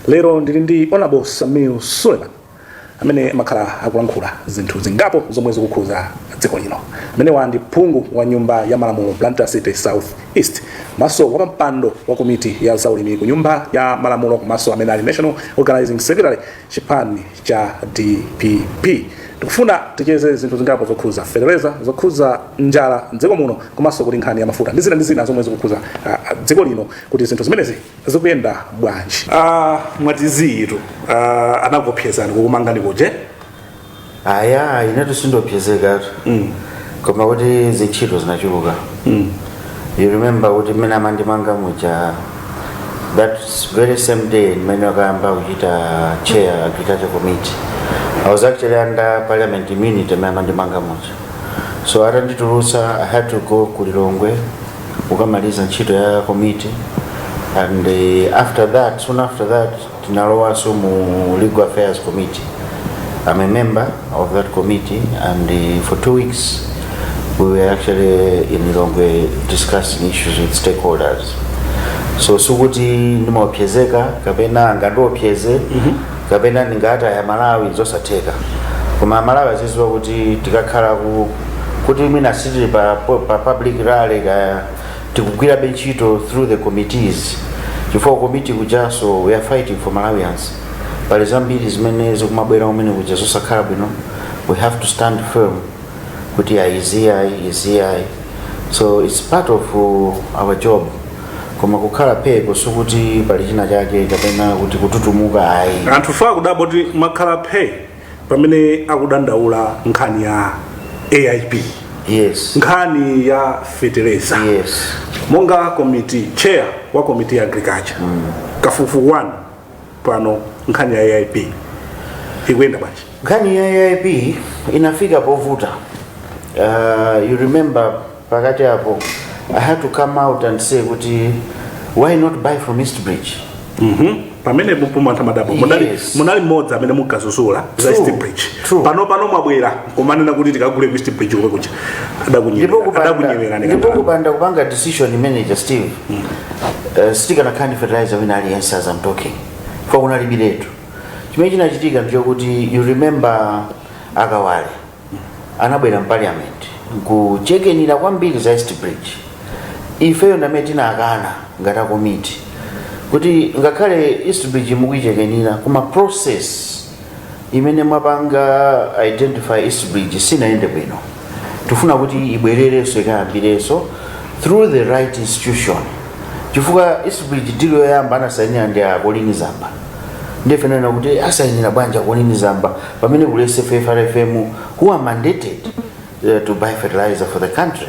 lero ndili ndi honorable sameer suleman amene amakhala akulankhula zinthu zingapo zomwe zikukhuza dziko lino amenewa ndi phungu wa nyumba ya malamulo blantyre city south east komanso wapampando wa komiti ya zaulimi ku nyumba ya malamulo komanso amene ali national organizing secretary chipani cha dpp tikufuna ticheze zinthu zingapo zokhuza fetereza zokhuza njala mdziko muno komanso kuti nkhani ya mafuta ndi zina ndi zina zomwe zikukhuza ah, ah, dziko lino kuti zinthu zimenezi zikuyenda bwanji ah, mwati ziitu ah, anakuopsezani kukumangani kuje aya inetu sindiopsezekatu koma kuti zintchito zinachuluka you remember kuti mmene amandimanga muja that very same day mmene akayamba kuchita chair agriculture committee i was actually under parliament immunity mmene amandimanga muja so atanditulutsa i had to go ku lilongwe kukamaliza ntchito ya komiti and uh, after that soon after that tinalowanso mu legal affairs committee i'm a member of that committee and uh, for two weeks we were actually in lilongwe discussing issues with stakeholders so sikuti ndimaopsezeka kapena angandiopseze kapena ndingataye amalawi zosatheka koma amalawi azidziwa kuti tikakhala ku kuti mwina sitili pa, pa public rally kaya tikugwirabe ntchito through the committees chifukwa komiti kujaso we are fighting for malawians pali zambiri zimene zikumabwera kumene kuja zosakhala bwino we have to stand firm kuti ayi izi ai izi ai so its part of uh, our job koma kukhala phe ko sikuti pali china chake kapena kuti kututumuka ayi anthufe tikudabwa kuti mwakhala phe pamene akudandaula nkhani ya aip yes nkhani ya feteleza yes monga komiti chair wa komiti ya agriculture kafukufuku wanu pano nkhani ya aip ikuyenda bwanji nkhani ya aip inafika povuta uh, you remember pakati apo i had to come out and say kuti why not buy from east bridge Mhm. pamene pompo anthu amadabwa munali Yes. munali mmodzi amene munkazuzula za True. east bridge True. pano pano mwabwera kumanena kuti tikagule ku east bridge komwe kuja ndipo kupanda- ndipo adakunyengererani kupanda kupanga decision imeneja steve Eh, sitikanakhala ndi fertilizer wina aliyense as I'm talking kwa kunalibiretu chimene chinachitika ndichokuti you remember akawale anabwera mparliament nkuchekenira kwambiri za east bridge ifeyo ndamene tinakana ngati akomiti kuti ngakhale east bridge mukuichekenira koma process imene mwapanga identify east bridge sinayende bwino tifuna kuti ibwererenso ikayambirenso through the right institution chifukwa east bridge deal yoyamba anasainira ndi a Colleen Zamba nde ife nkunena kuti asayinira bwanji a Colleen Zamba pamene kuli sffrfm who are mandated uh, to buy fertilizer for the country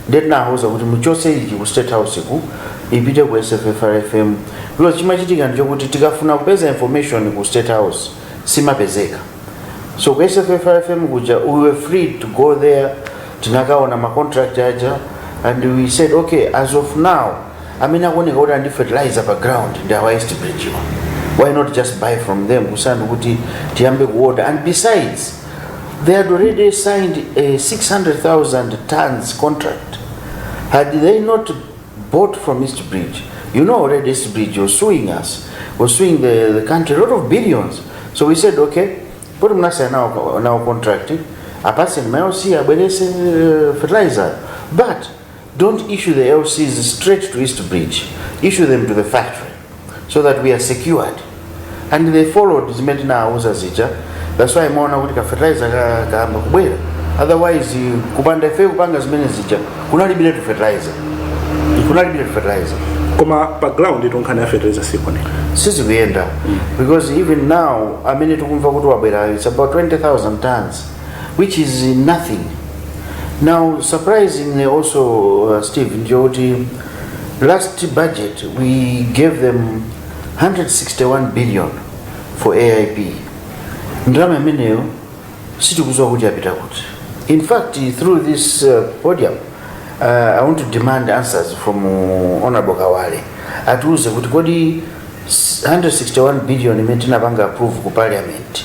nde tinawauza kuti muchose ichi ku state house ku ipite ku sffrfm because chimachitika ndichokuti tikafuna kupeza information ku state house simapezeka so ku sffrfm kuja we were free to go there tinakaona macontract aja and we said okay as of now amene akuoneka kuti ali ndi fertilizer pa ground ndi awa east bridge wa why not just buy from them kusanu kuti tiyambe kuorder and besides they had already signed a 600000 tons contract had they not bought from east bridge you know already east bridge was suing us was suing the, the country a lot of billions so we said okay put mnasaya nawo nawo contract apaseni mayosiya abwerese eh, fertilizer but Don't issue the LCs straight to East Bridge. Issue them to the factory so that we are secured. And they followed zimene tinawauza zija. That's why mukuona kuti ka fertilizer ka- kayamba kubwera. Otherwise you- kupanda ife kupanga zimene zija kunalibiretu fertilizer. Kunalibiretu fertilizer. koma pa ground itoyo nkhani ya fertilizer sikone sizikuyenda because even now amene tikumva kuti wabwera it's about 20000 tons which is nothing now surprisingly also uh, steve ndi yokuti last budget we gave them 161 billion for aip ndalama imeneyo sitikuziwa kuti yapita kuti in fact through this uh, podium uh, i want to demand answers from uh, honorable kawale atiuze kuti kodi 161 billion imene tinapanga approve ku parliament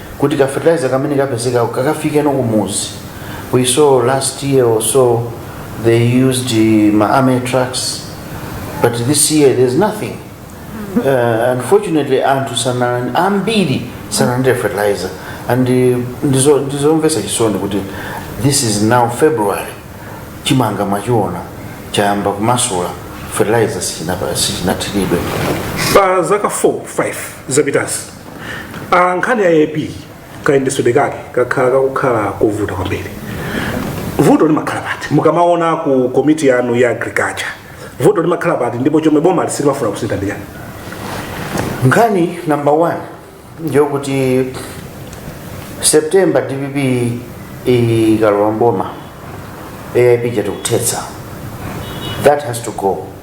kuti ka fertilizer kamene kapezekako kakafikeno kumuzi we saw last year or so they used uh, ma army trucks but this year there's nothing uh, unfortunately anthu sana ambiri sanalandire fertilizer and uh, ndizo- ndizomvesa chisoni kuti this is now february chimanga mwachiona chayamba kumasula fertilizer sichinapa- sichinathiridwe. pa zaka 4 5 zapitazi Ah, nkhani ya aip kayendetsedwe kake kakhala kakukhala kovuta kwambiri vuto limakhala pati mukamaona ku komiti yanu ya agriculture vuto limakhala pati ndipo chomwe boma silimafuna kusintha ndi chani nkhani number one ndiyokuti september dpp ikalowa mboma aip tikuthetsa that has to go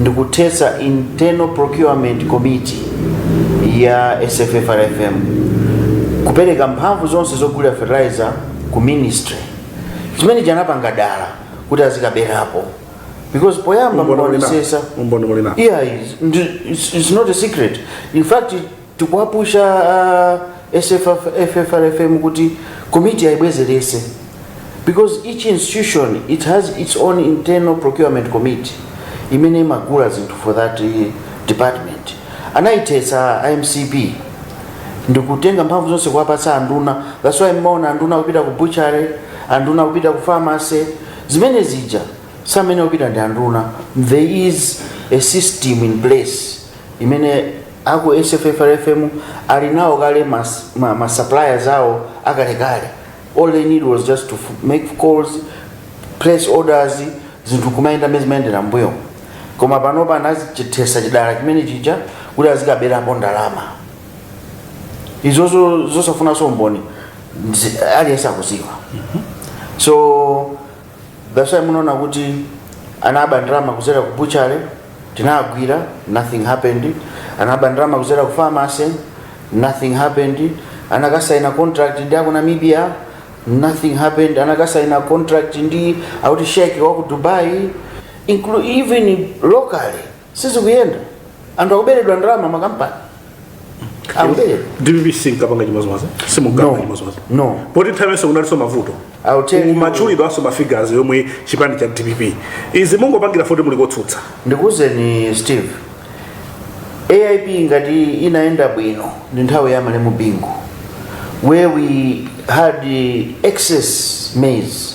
ndikuthetsa internal procurement committee ya sffrfm kupereka mphamvu zonse zogulira fertilizer ku ministry chimene anapanga dala kuti azikaberapo because poyamba Umboni muli nawo. mukaonesesa Umboni muli nawo. yeah it's, it's, it's not a secret in fact tikuwapusha a sffrfm kuti komiti ayibwezerese because each institution it has its own internal procurement committee imene imagula zinthu for that eh, department anayithetsa a mcp ndikutenga mphamvu zonse kuwapatsa anduna that's why mmaona anduna kupita ku butchery anduna kupita ku pharmacy zimene zija samene kupita ndi anduna there is a system in place imene aku sffrfm ali nawo kale ma, ma, ma suppliers awo akalekale all they need was just to f- make calls place orders zinthu kumayenda mmene zimayendera mbuyo koma panopa anachithetsa chidala chimene chija kuti azikaberapo ndalama izozo zosafunanso mboni zi- aliyense akuziwa so that's why munaona kuti anaba ndalama kudzera ku butchery tinagwira nothing happened anaba ndalama kudzera ku pharmacy nothing happened anakasaina contract ndi aku namibia nothing happened anakasaina contract ndi auti sheikh wa ku dubai inclu even locally sizikuyenda anthu akuberedwa ndalama makampani akuberedwa dpp sinkapanga chimodzimodzi simungakambe No. chimodzimodzi No. poti nthawiyonso kunalinso mavuto I'll tell you- amatchulidwanso mafigures yomwe chipani cha dpp izi mungopangira poti muli kotsutsa ndikuwuzeni steve aip ngati inayenda bwino ndi nthawi ya malemu bingu where we had excess maize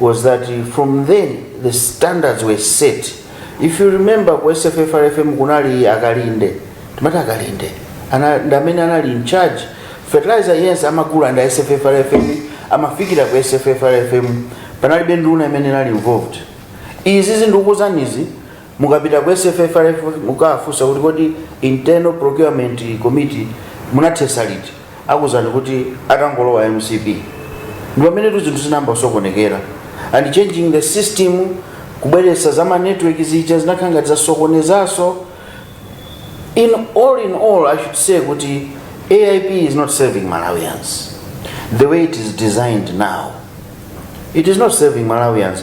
was that from then the standards were set if you remember ku sffrfm kunali akalinde timati akalinde ana- ndi amene anali in charge fertilizer yense amagula ndi a sffrfm amafikira ku sffrfm panalibe nduna imene inali involved izi zindikukuuzanizi Mukapita ku SFFRFM mukawafunsa kuti kodi internal procurement committee munathetsa liti, akuuzani kuti atangolowa mcp. Ndipamenetu zinthu zinayamba kusokonekera and changing the system kubweretsa za ma network zija zinakhala ngati zasokonezanso. In all in all I should say kuti AIP is not serving Malawians the way it is designed now. It is not serving Malawians.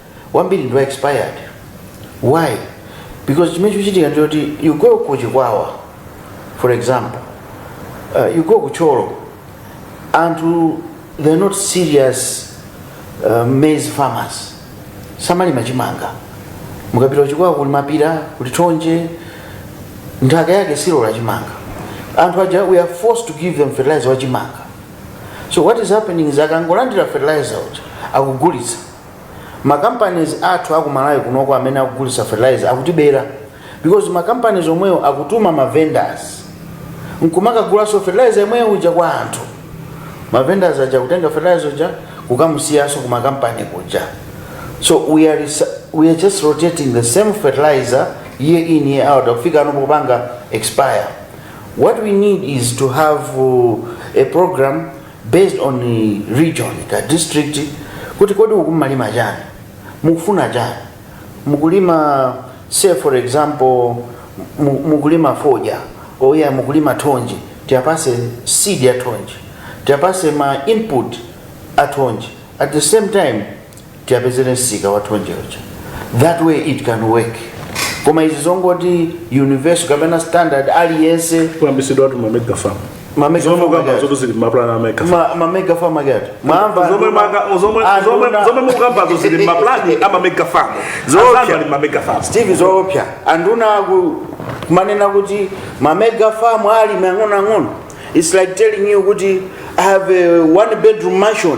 wambiri ndi wa expired why because chimene chikuchitika ndichoti you go ku chikwawa for example uh, you go ku thyolo anthu they're not serious uh, maize farmers samalima chimanga mukapita kuchikwawa kuli mapira kuli thonje nthaka yake silola chimanga anthu aja we are forced to give them fertilizer wa chimanga so what is happening is akangolandira fertilizer uja akugulitsa ma companies athu aku malawi kunoko amene akugulitsa fertilizer akutibera because ma companies omwewo akutuma ma vendors nkumakagulaso fertilizer yemweyo uja kwa anthu ma vendors aja kutenga fertilizer uja kukamusiyaso kuma company kuja so we are, resa- we are just rotating the same fertilizer year in year out kufika pano popanga expire what we need is to have uh, a program based on region the district kuti kodi uku mmalima chani mukufuna chani mukulima say for example mu- mukulima fodya oya mukulima thonje tiyapase seed ya thonje tiyapase ma input a thonje at the same time tiyapezere msika wa thonje uja that way it can work koma izi zongoti universal kapena standard aliyense kuyambisidwa ati mamega farm mamega zomwe farm mukamba ake- zonse zili maplan amega farm ma- mamega farm ake ati mwamva zomwe maka- zomwe- Ah, zomwe- nduna- zomwe mukambazo zili maplani amamega farm Zoopsa. azanu ali mamega farm steve zopusa anduna aku- kumanena kuti mamega farm ali mang'onoang'ono its like telling you kuti i have a one bedroom mansion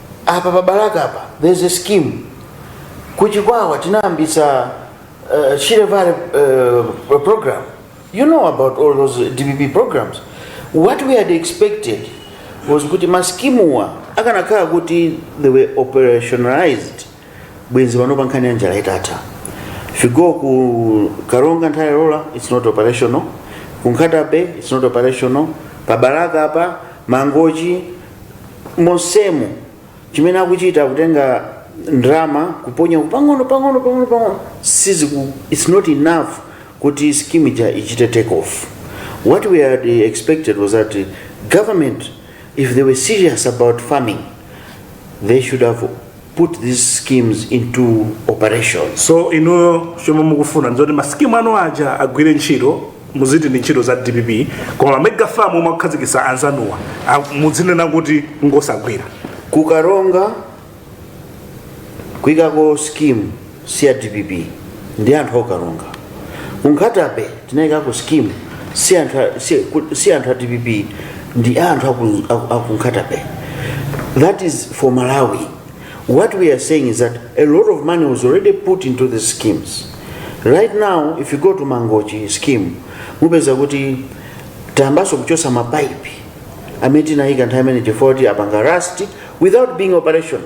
apa pa balaka apa there's a scheme kuchikwawa tinayambitsa uh, shire valley uh, program you know about all those dpp programs what we had expected was kuti maskimuwa akanakhala kuti they were operationalized bwenzi pano pa nkhani ya njala yatha if you go ku karonga nthola ilola it's not operational ku nkhata bay it's not operational pa balaka apa mangochi monsemo chimene akuchita kutenga ndalama kuponya pang'ono pang'ono pang'ono pang'ono siziku it's not enough kuti scheme ija ichite take off what we had expected was that uh, government if they were serious about farming they should have put these schemes into operation. so inu chomwe mukufuna ndizoti masikimu anu aja agwire ntchito muziti ndi ntchito za dpp koma ma mega farm omwe akukhazikitsa anzanuwa a- mudzinena kuti ngosagwira kukaronga kuikako scheme si ya dpp ndi anthu okaronga kunkhata bay tinayikako scheme si anthu a- si- ku- si anthu a dpp ndi anthu aku- aku- akunkhata bay that is for malawi what we are saying is that a lot of money was already put into the schemes right now if you go to mangochi scheme mupeza kuti tayambaso kuchosa mapaipi amene tinayika nthawi imeneyo chifukwa kuti apanga rust without being operational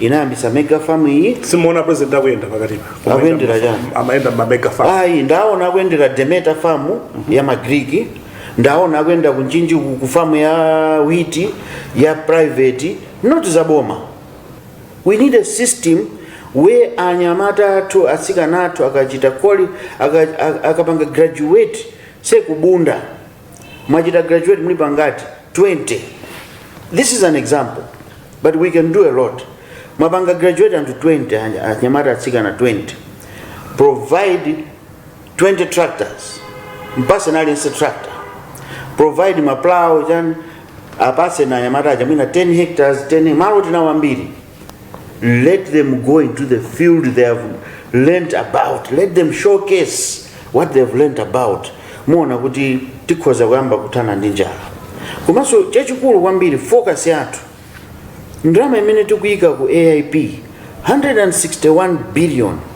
inayambisa mega farm iyi simuona president akuyenda pakatipa Akuyendera chani? amayenda mmamega farm ayi ndaona akuyendera Demeter farm ya magriki ndaona akuyenda ku Mchinji ku ku farm ya witi ya private not za boma we need a system where anyamata athu atsikana athu akachita koli aka- aka- akapanga graduate say ku Bunda mwachita graduate muli pangati 20 this is an example but we can do a lot mwapanga graduate anthu 20 anya- anyamata atsikana 20 provide 20 tractors mpase aliyense tractor provide maplow chani apase na anyamata aja mwina 10 hectares 10 malo tinawo ambiri Let them go into the field they have learnt about. Let them showcase what they have learnt about. Muona kuti tikhoza kuyamba kuthana ndi njala. Komanso chachikulu kwambiri focus yathu ndalama imene tikuyika ku AIP 161 billion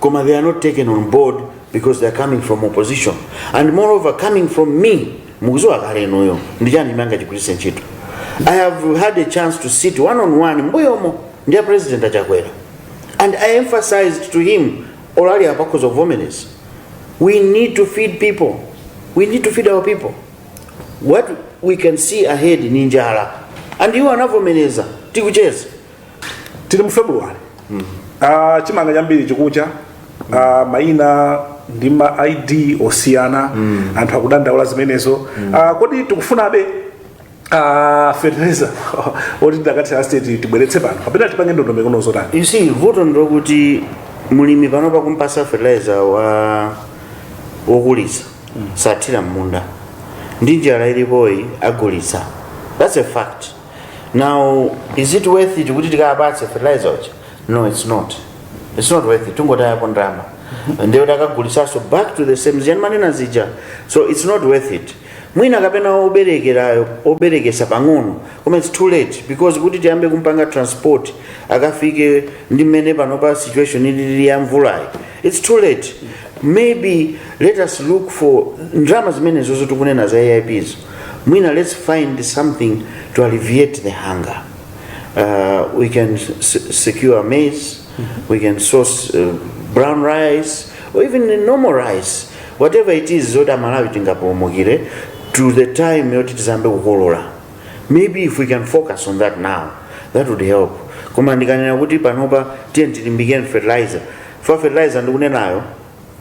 koma they are not taken on board because they are coming from opposition and moreover coming from me mukuziwa kale inuyo ndichani chimene angachigwiritse ntchito i have had a chance to sit one on one mbuyomo ndi a president a Chakwera and i emphasized to him olo ali apa akhoza kuvomereza we need to feed people we need to feed our people what we can see ahead ndi njala and iwo anavomereza tikucheza tili mu february Ah, chimanga chambiri chikucha Ah, maina ndi ma id osiyana anthu akudandaula zimenezo Ah, kodi tikufunabe ah, fertilizer oti tidakathira state tibweretse pano kapena tipange ndondomeko ina yotani you see vuto ndilokuti mulimi panopa kumpasa fertilizer wa wokulitsa sathira mmunda ndi njala ilipoyi agulitsa that's a fact now is it worth it kuti tikapatse fertilizer uja no it's not it's not worth it tungotayako ndalama ndiyo takagulitsanso back to the same zijazi ndimanena zija so it's not worth it mwina kapena oberekerayo oberekesa pang'ono koma it's too late because kuti tiyambe kumpanga transport akafike ndi mmene panopa situation ilili ya mvulayi it's too late maybe let us look for ndalama zimenezo zomwe tikunena za aips mwina let's find something to alleviate the hunger uh, we can s- secure maize we can source uh, brown rice or even normal rice whatever it is zoti amalawi tingapulumukire to the time yoti tizambe kukolola maybe if we can focus on that now that would help koma ndikanena kuti panopa tiye tilimbikeni fertilizer fa fertilizer ndikunenayo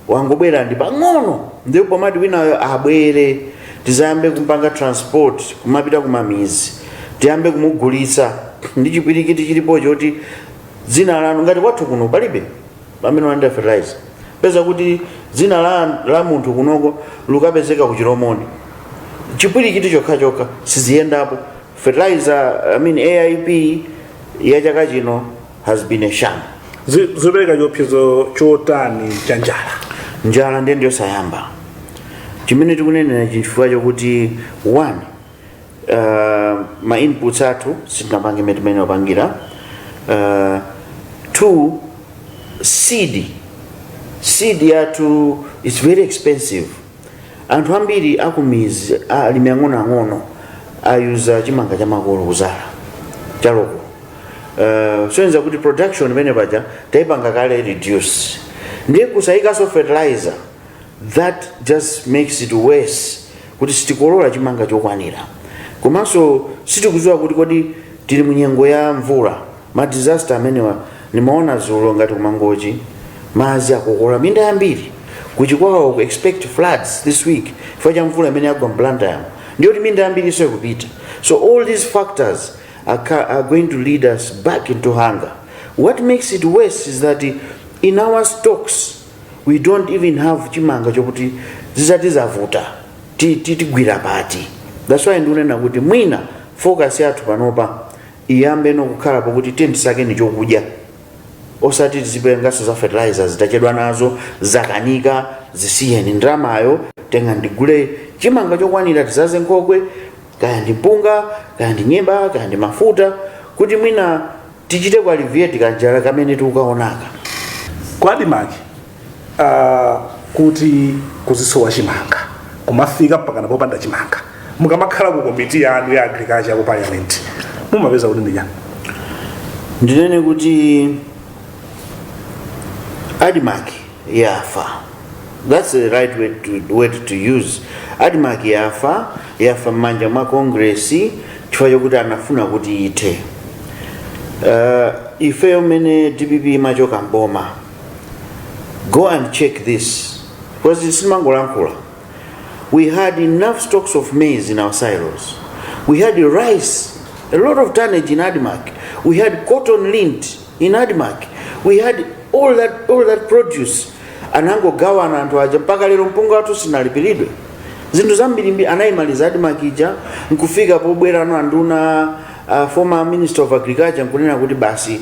wangobwera ndi pang'ono ndipo pomati winayo abwere tizayambe kumpanga transport kumapita kumamizi tiyambe kumugulitsa ndi chipwirikiti chilipo choti dzina lanu ngati kwathu kuno palibe amene walandira fertilizer upeza kuti dzina la, la munthu kunoko lukapezeka ku chilomoni chipwirikiti chokha chokha siziyendapo fertilizer I mean aip ya chaka chino has been a sham Zi- zopereka chiopsezo chotani cha njala njala ndiye ndiyosasimba chimene tikunenera chifukwa chakuti one uh, ma inputs athu sitinapange mmene wapangira uh, two seed seed yathu is very expensive anthu ambiri akumizi alimi ang'onoang'ono a-user chimanga chamakolo kuzala cha local uh, zosonyeza kuti production imene paja tayipanga kale reduce ndiye kusayikanso fertilizer that just makes it worse kuti sitikolola chimanga chokwanira komanso sitikudziwa kuti kodi tili munyengo ya mvula ma disaster amenewa nimaona zulo ngati kumangochi madzi akukokola minda yambiri kuchikwawa ku expect floods this week chifukwa cha mvula imene yagwa m'Blantyre muno ndiye kuti minda yambiri inso ikupita so all these factors are, ca- are going to lead us back into hunger what makes it worse is that in our stocks we don't even have chimanga chokuti zitati zavuta ti- ti- tigwira pati that's why ndikunena kuti mwina focus yathu panopa iyambe no kukhala pokuti tiyeni tisakeni chokudya osati tizipenganso za fertilizer zi tachedwa nazo zakanika zisiyeni ndalamayo tengani tigule chimanga chokwanira tizaze nkhokwe kaya ndi mpunga kaya ndi nyemba kaya ndi mafuta kuti mwina tichite ku-alleviate kanjala kamene tikukaonaka Kwa Admarc, uh, kuti kuzisowa chimanga kumafika mpakana popanda chimanga mukamakhala ku komiti yanu ya agriculture ku parliament mumapeza kuti ndichani ndinene kuti admark yafa that's the right word to, word to use admark yafa yafa m'manja mwa kongresi chifukwa chokuti anafuna kuti ithe uh, ifeyo mmene dpp imachoka mboma go and check this because sitimangolankhula we had enough stocks of maize in our silos we had rice a lot of tonnage in admark we had cotton lint in admark we had all that, all that produce anangogawana anthu aja mpaka lero mpunga wathu sinalipiridwe zinthu zambirimbiri anayimaliza admark ija nkufika pobwerano anduna uh, former minister of agriculture nkunena kuti basi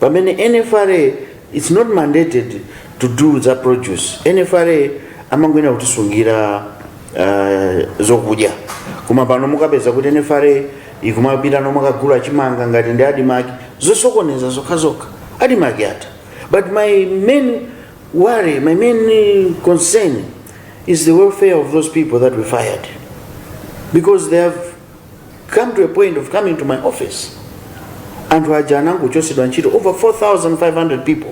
pamene nfra its not mandated to do za produce nfra amangoyenera kutisungira uh, zokudya koma pano mukapeza kuti nfra ikumapita nomakagula chimanga ngati ndi adimaki zosokoneza zokhazokha adimaki yatha but my main worry my main concern is the welfare of those people that we fired because they have come to a point of coming to my office anthu aja anangochotsedwa ntchito over 4500 people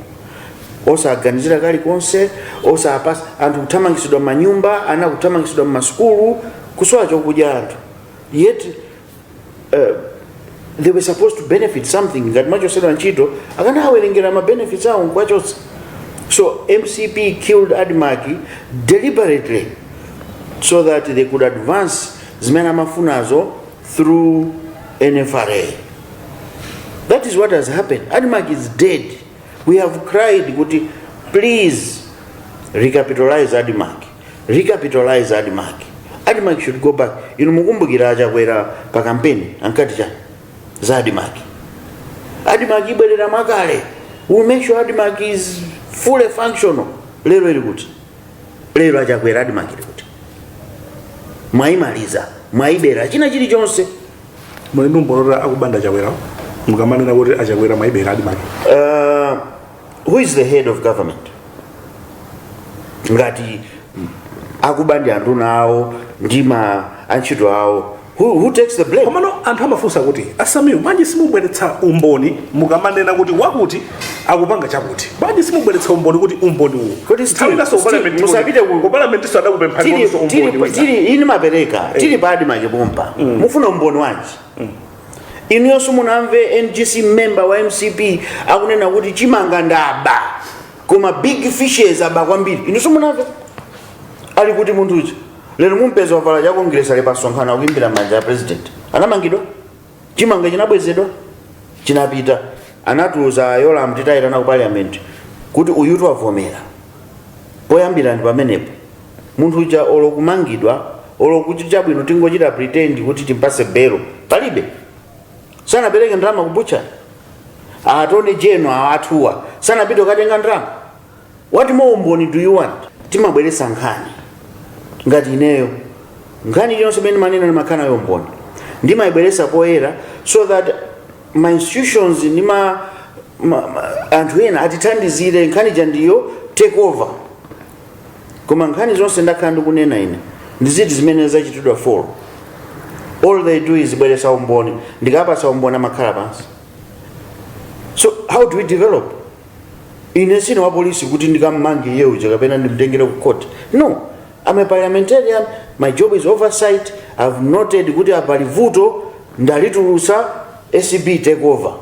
osaganizira kalikonse osawapatsa anthu kuthamangitsidwa manyumba ana kuthamangitsidwa mmasukulu kusowa chokudya anthu yet uh, they were supposed to benefit something ngati amachotsedwa ntchito akanawawerengera ma benefits awo nkuwachotsa so mcp killed admark deliberately so that they could advance zimene amafunazo through nfra that is what has happened admark is dead we have cried kuti please recapitalize admark recapitalize admark admark should go back inu mukumbukira achakwera pa kampeni ankati chani za admark admark ibwerera mwakale we make sure admark is fully functional lero ili kuti lero achakwera admark ili kuti mwayimaliza mwayibera china chilichonse muli ndi umboni kuti akuba ndi achakwera mukamanena kuti achakwera mwayibera admark uh, who is the head of government ngati akuba ndi anduna awo ndi ma antchito awo who, who takes the blame komano anthu amafunsa kuti asamiwo bwanji simubweretsa umboni mukamanena kuti wakuti akupanga chakuti bwanji simubweretsa umboni kuti umboni uwu kuti musapite ku parliament nso adakupemphani tili ndiponso umboni tili- wina. tili ine ndimapereka tili pa admark pompa mufuna umboni wanji inuyonso munamve ngc member wa mcp akunena kuti chimanga ndaba koma big fishes aba kwambiri inunso munamve ali kuti munthu uja lero mumpeza wavala cha kongresi ali pasonkhano akuimbira manja a president anamangidwa chimanga chinabwezedwa chinapita anatiuza yolam titamuyitana ku parliament kuti uyutu wavomera poyambira ndi pamenepo munthu uja olo kumangidwa olo kuti chabwino tingochita pretend kuti timpatse belo palibe sanapereke ndalama ku butchery attorney general athuwa sanapite kukatenga ndalama What more umboni do you want? Timabweretsa nkhani ngati ineyo nkhani iliyonse imene ndimanena ndimakhala nayo umboni ndimayibweretsa poyera so that ma institutions ndi ma, ma, ma anthu ena atithandizire nkhani zija ndi take over koma nkhani zonse ndakhala ndikunena ine ndi ziti zimene zachitidwa follow all they do is bweretsa umboni ndikapatsa umboni amakhala pansi so how do we develop ine sindine wa polisi kuti ndikammange iye uja kapena ndimtengere ku court no am a parliamentarian my job is oversight i've noted kuti apa pali vuto ndalitulusa acb take over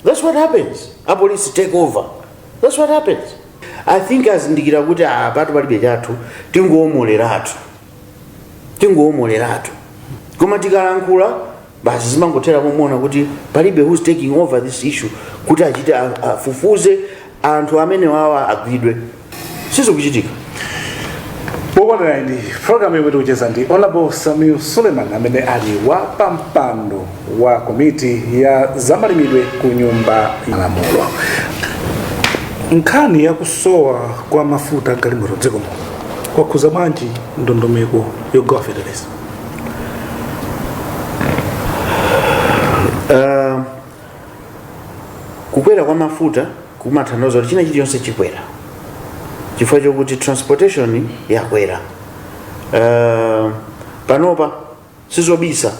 that's what happens apolisi take over that's what happens i think azindikira kuti apatu palibe chathu tingowomoleratu tingowomoleratu koma tikalankhula basi zimangothera pomuwona kuti palibe who's taking over this issue kuti achite a- afufuze anthu amene wawa agwidwe sizikuchitika pokanirani ndi programu yomwe tikucheza ndi honorable sameer suleman amene ali wa pampando wa komiti ya zamalimidwe ku nyumba ya malamulo nkhani yakusowa kwa mafuta agalimoto dziko muno kwakhuza bwanji ndondomeko yogawa feteleza Uh, kukwera kwa mafuta kumatanthauza kuti china chilichonse chikwera chifukwa chokuti transportation yakwera uh, panopa sizobisa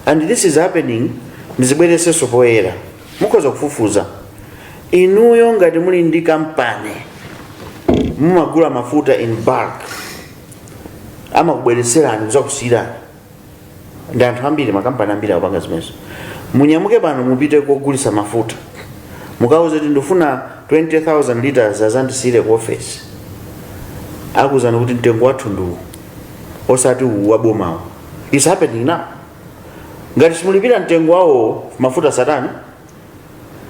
and this is happening ndizibweresenso poyera mukhoza kufufuza inuyo ngati muli ndi kampani mumagula mafuta in bulk amakubweretserani kuzakusiyirani ndi anthu ambiri makampani ambiri akupanga zimenezo munyamuke pano mupite kogulisa mafuta mukauze kuti ndifuna 20000 liters azandisiyire ku ofesi akuuzani kuti mtengo wathu ndiwu osati uwu wabomawo it's happening now ngati simulipira mtengo wawo mafuta satana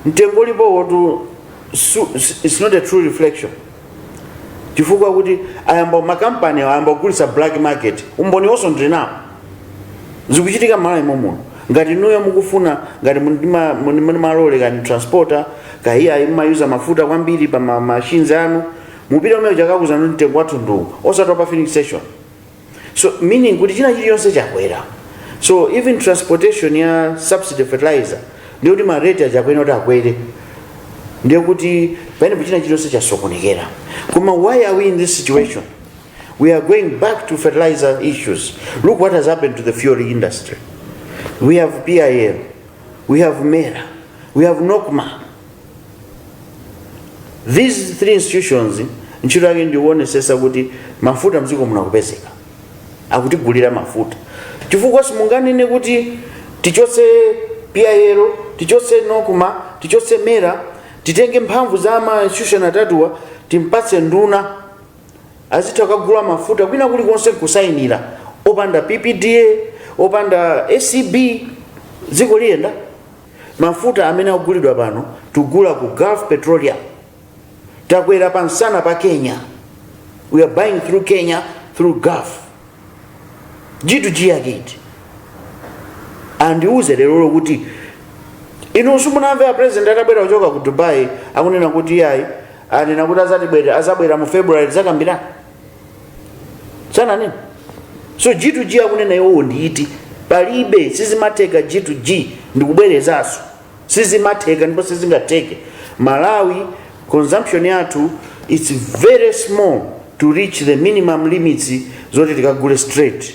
mtengo ulipowotu su- s- it's not a true reflection chifukwa kuti ayamba makampani ayamba kugulitsa black market umboninso ndili nawo zikuchitika mmalawi momuno muno ngati inuyo mukufuna ngati muli ndi malole kaya ndi transporter kaya iyayi mumayuza mafuta kwambiri pa ma- machines anu mupite kumeneko akakuuzani mtengo wathu ndi uwu osati wa pa filling station so meaning kuti china chilichonse chakwera so even transportation ya subsidy fertilizer ndiye kuti ma rate achakwera kuti akwere ndiye kuti pamenepo china chilichonse chasokonekera koma why are we in this situation we are going back to fertilizer issues look what has happened to the fuel industry we have pil we have mera we have nocma these three institutions ntchito yake ndikuonesesa kuti mafuta mdziko muno akupezeka akutigulira mafuta chifukwa simunganene kuti tichotse pil tichotse nocma tichotse mera titenge mphamvu za ma institution atatuwa timpatse nduna azitha kukagula mafuta kwina kulikonse nkusayinira opanda ppda opanda acb dziko liyenda mafuta amene akugulidwa pano tikugula ku gulf petroleum takwera pa msana pa kenya we are buying through kenya through gulf g2g yake iti andiuze lero lero kuti inu simunamve a president atabwera kuchoka ku dubai akunena kuti yayi anena kuti azabwera mu february zakambira sananena so g2g akunena iwowo ndi iti palibe sizimatheka g2g ndikubwerezanso sizimatheka ndipo sizingatheke malawi consumption yathu its very small to reach the minimum limits zoti tikagule straight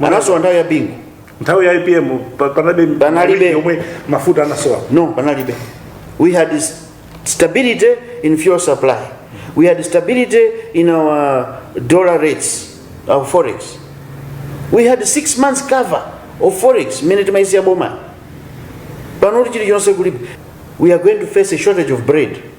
anasowa nthawi ya bingu nthawi ya apm pa- panalibe yomwe mafuta anasowa no panalibe we had s- stability in fuel supply we had stability in our dollar rates our forex we had six months cover of forex mmene timayisiya boma panoti chilichonse kulibe we are going to face a shortage of bread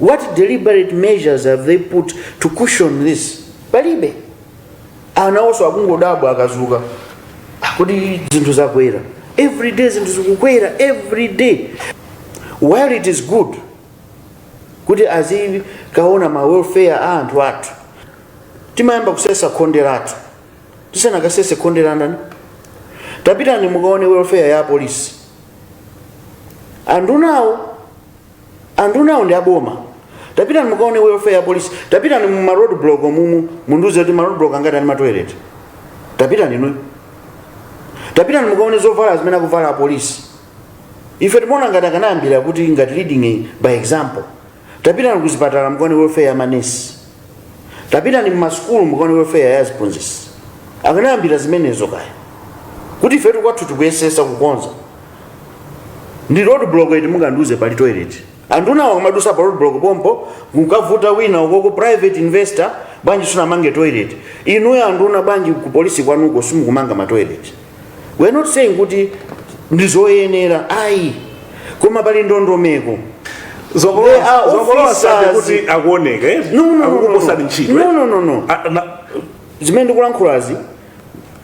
what deliberate measures have they put to cushion this palibe anawonso akungodabwa akazuka kuti zinthu zakwera every day zinthu zikukwera every day while it is good kuti azikaona ma welfare a anthu athu timayamba kusesa khonde lathu tisanakasese khonde landani tapitani mukaone welfare ya apolisi andunawo andunawo ndi aboma tapitani mukaone welfare ya apolisi tapitani mu ma road block mumu mundiuze kuti ma road block angati ali ma toilet tapitani inuyo tapitani mukaone zovala zimene akuvala apolisi ife timaona ngati akanayambira kuti ngati leading by example tapitani kuzipatala mukaone welfare ya manesi tapitani mmasukulu mukaone welfare ya aziphunzitsi akanayambira zimenezo kaye kuti ifetu kwathu tikuyesesa kukonza ndi road block iti mungandiuze pali toilet andunawo kumadusa pa road block pompo mukavute wina ukoko private investor bwanji sunamange toilet inuyo anduna bwanji ku polisi kwanuko simukumanga ma toilet we are not saying kuti ndizoyenera ayi koma pali ndondomeko kuti akuoneka akukuposani ntchito no zimene ndikulankhulazi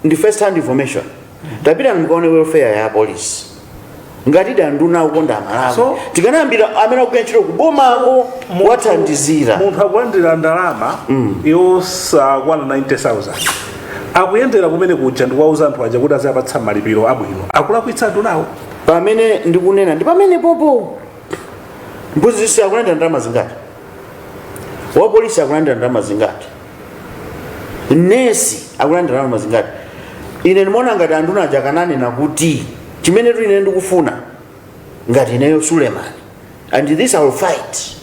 ndi first hand information tapitani mukaone welfare ya apolisi ngatidi anduna akukonda malawi tikanayambira amene akugwira ntchito kubomako wathandizira munthu akulandira ndalama yosakwana 90000 akuyendera kumene kuja ndikuwauza anthu aja kuti aziwapatsa malipiro abwino akulakwitsa andunawo pamene ndikunena ndi pamene popo mphunzitsi akulandira ndalama zingati wapolisi akulandira ndalama zingati nesi akulandira ndalama zingati ine ndimaona ngati anthu naja akananena kuti chimene tu ine ndikufuna ngati ineyo suleman and this I will fight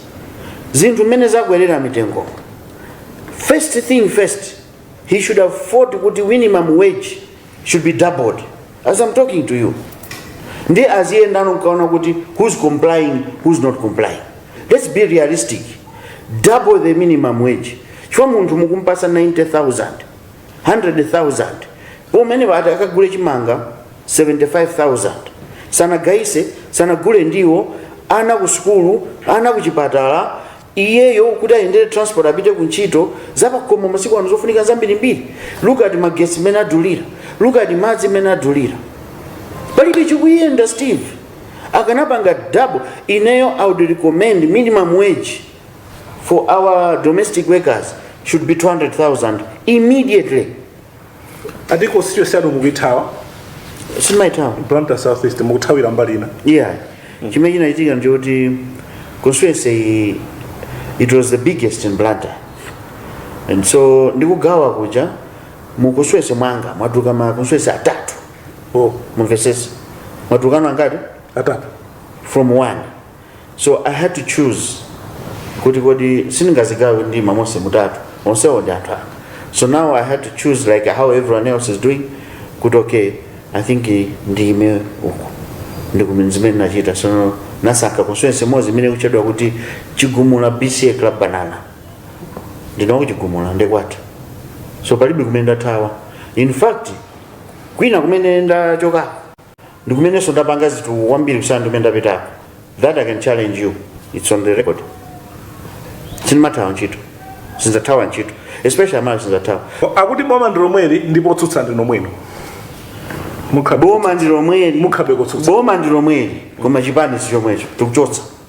zinthu mmene zakwerera mitengo first thing first he should have fought kuti minimum wage should be doubled as I'm talking to you ndi aziyenda nkuona kuti who's complying who's not complying let's be realistic double the minimum wage chifukwa munthu mukumpasa 90000 100000 pomene poti akagule chimanga 75000 sanagayise sanagule ndiwo ana ku sukulu ana ku chipatala iyeyo kuti ayendere transport apite ku ntchito zapakhomo masiku ano zofunika zambirimbiri look at magesi mmene adulira look at madzi mmene adulira palibe chikuyenda Steve akanapanga double ineyo i would recommend minimum wage for our domestic workers should be 200000 immediately ati constituency yanu mukuyithawa sindimaithawa blantyre south east mukuthawira mbali ina yeah chimene chinachitika ndichoti constituency iyi it was the biggest in blantyre and so ndikugawa kuja mu constituency mwanga mwatuluka ma constituency atatu oh mumvesese mwatulukano angati atatu from one so i had to choose kuti kodi sindingazigawe ndiima monse mutatu onsewo ndi anthu anga so now i had to choose like how everyone else is doing kuti okay i think eh, ndiime uku ndi zimene ndachita so ndasankha constituency imodzi imene ikutchedwa kuti chigumula bca club banana ndiye ku chigumula ndi kwathu so palibe kumene ndathawa in fact kwina kumene ndachoka ndi kumenenso ndapanga zitukuko kwambiri kusiyana ndi kumene ndapitako that i can challenge you it's on the record sindimathawa ntchito sindzathawa ntchito especially amalawi sindzathawa akuti boma ndi lomweli ndipo otsutsa ndinu nomwenu mukhabe boma ndi lomweli mukhabe kutsutsa boma ndi lomweli koma chipani si chomwecho tikuchotsa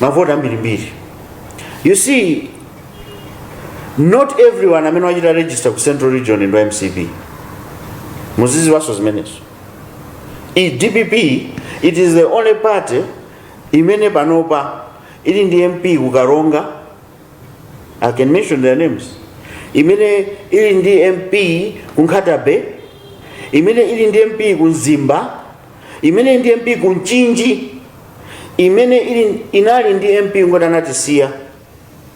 mavoti ambirimbiri you see not everyone amene wachita register ku central region ndi wa mcp muziziwaso zimenezo dpp it is the only party imene panopa ili ndi mp ku karonga i can mention their names imene ili ndi mp ku nkhata bay imene ili ndi mp ku mzimba imene ili ndi mp ku mchinji imene ili inali ndi mp kungoti anatisiya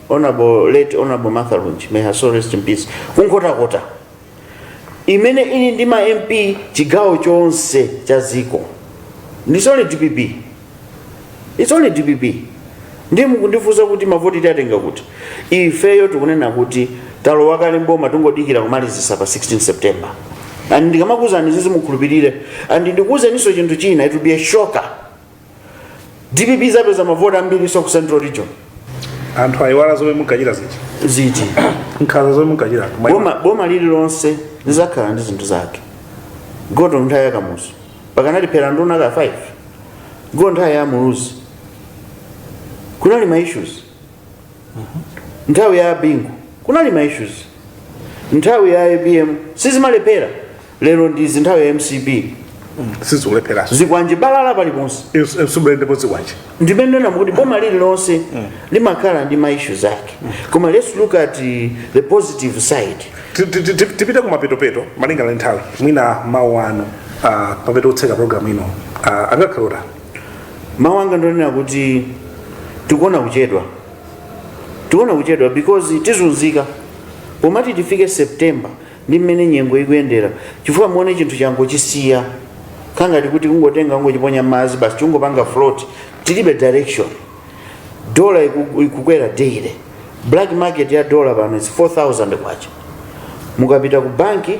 honorable late honorable martha lunji may her soul rest in peace ku nkhotakota imene ili ndi ma mp chigawo chonse cha dziko it's only dpp its only dpp ndiye mukundifunsa kuti mavoti tiwatenga kuti ifeyo tikunena kuti talowa kale mboma tikungodikira kumalizisa pa 16 september and ndikamakuuzani zizi mukhulupirire and ndikuuzeninso chinthu china it will be a shocker dpp izapeza mavoti ambiri so ku central region anthu ayiwala zomwe munkachita zija ziti nkhanza zomwe munkachita boma lililonse lizakhala ndi zinthu zake go to nthawi ya kamuzu paja anatiphera nduna ka 5 go to nthawi ya muluzi kunali ma issues nthawi ya bingu kunali ma issues nthawi ya apm sizimalephera lero ndizi nthawi ya mcp sizikulepheranso zikwanje balala paliponse zikwanje ponseponse ndimene ndikunena kuti boma lililonse limakhala ndi ma issues ake koma let's look at uh, the positive side Ti- ti- ti- tipite kumapetopeto malinga na nthawi mwina mawu anu ah, pamene tikutseka programu ino ah, angakhale otani mawu anga ndongonena kuti tikuona kuchedwa tikuona kuchedwa because tizunzika pomati tifike september ndi mmene nyengo zikuyendera chifukwa muone chinthu changochisiya kangati kuti kungotenga kungochiponya mmadzi basi chikungopanga float tilibe direction dola iku- ikukwera daily black market ya dola pano is 4000 kwacha mukapita ku banki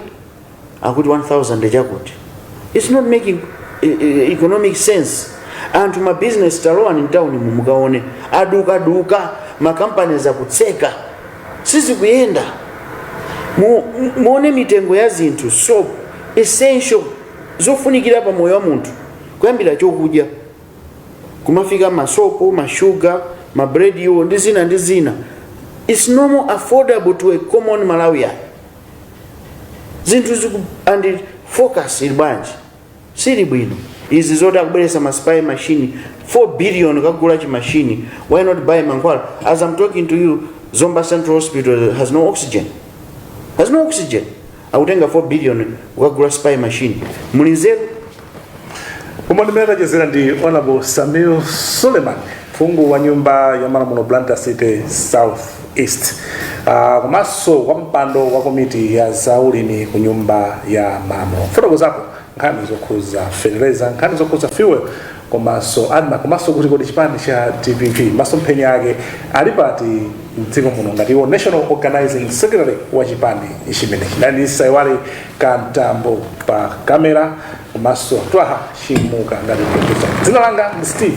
akuti 1000 chakuti its not making eh, eh, economic sense anthu ma business talowani mtawuni mu mukaone adukaduka ma companies akutseka sizikuyenda Mu- mu- muone mitengo ya zinthu soap essential zofunikira pa moyo wa munthu kuyambira chokudya kumafika masopo mashuga ma bread wo ndi zina ndi zina its no more affordable to a common malawian zinthu ziku and focus ili bwanji sili bwino izi zoti akubweretsa ma spy machine 4 billion kukagula chi machine why not buy mankhwala as i'm talking to you zomba central hospital has no oxygen has no oxygen akutenga 4 billion kukagula spy machine muli nzeru koma ndimene tachezera ndi honorable sameer suleman phungu wa nyumba ya malamulo blantyre city south East uh, komanso wa pampando wa komiti ya zaulimi ku nyumba ya malamulo kufotokozapo nkhani zokhuza fertilizer nkhani zokhuza fuel komanso admarc komanso kuti kodi chipani cha dpp masomphenya ake ali pati mdziko muno ngati iwo national organizing secretary wa chipani chimenechi ndisaiwale kantambo pa kamera komanso twaha chimuka ngati producer dzina langa ndi steve